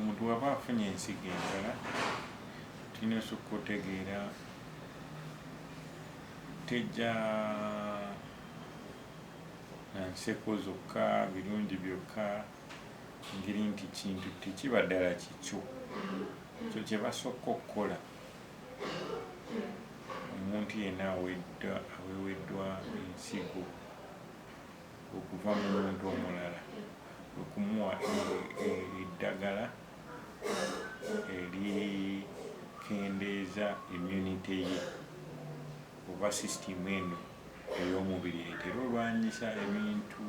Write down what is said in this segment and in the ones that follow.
Omuntu bwaba afunye ensigo endala tulina osukka otegeera tejja na nseko zokka birungi byokka ngeri nti kintu tekiba ddala kikyo ekyo kyebasokka okukola omuntu yenna aweddwa aweweddwa ensigo okuva mu muntu omulala okumuwa eddagala erikendeeza immunity ye oba system eno ey'omubiri etera olwanyisa ebintu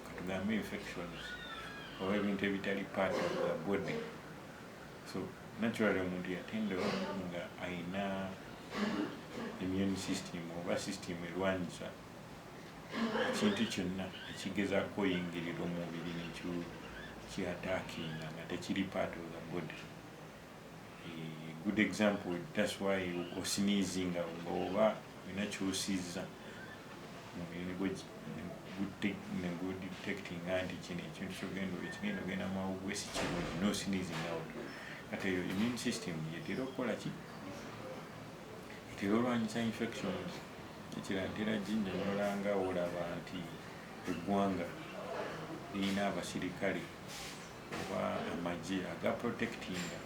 katugambe infections oba ebintu ebitali part of the body so naturally omuntu yatendewa nga ayina immune system oba system erwanyisa ekintu kyonna ekigezako oyingirira omubiri nekyo ki attackinga nga tekiri part of the body eh, good example that's why osinizinga nga oba olina kyosiza omubiri negudetectinga nti kino ekintu kyogenda ekigenda ogenda mawugwe sikirungi nosinizinga out kati eyo immune system yetera okukola ki etera olwanyisa infections Ekiragera ginnyonyola nga wolaba nti eggwanga lirina abasirikale oba amagye aga protectinga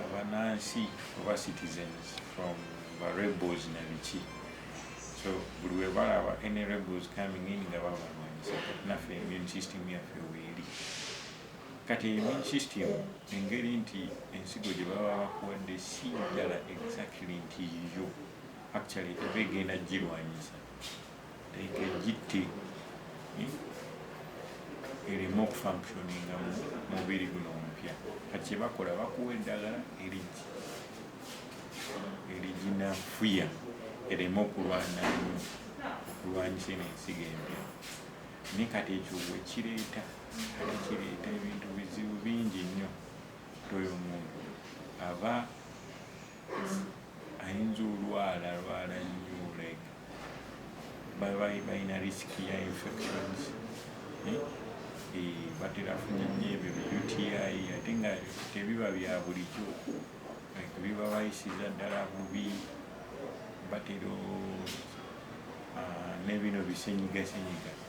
abanansi oba citizens from ba rebels na biki so buli webalaba any rebels coming in nga babalwanyisa kati naffe immune system yaffe weeri. Kati immune system engeri nti ensigo gye baba bakuwadde si njala exactly nti yiyo, actually eba egenda kugirwanyisa like egitte eh, ereme okufunctioninga mu mubiri guno omupya. Kati kye bakola bakuwa eddagala erigi eriginafuya ereme okulwana nnyo okulwanyisa eno ensigo empya, naye kati ekyo we kireeta kireeta ebintu bizibu bingi nnyo nti oyo muntu aba ayinza olwala lwala nnyo like baba balina risiki ya infections eh? Eh, batera funa nnyo ebyo bi uti ate nga tebiba bya bulijjo like biba bayisiza ddala bubi batera ah, nebino bisenyigasenyiga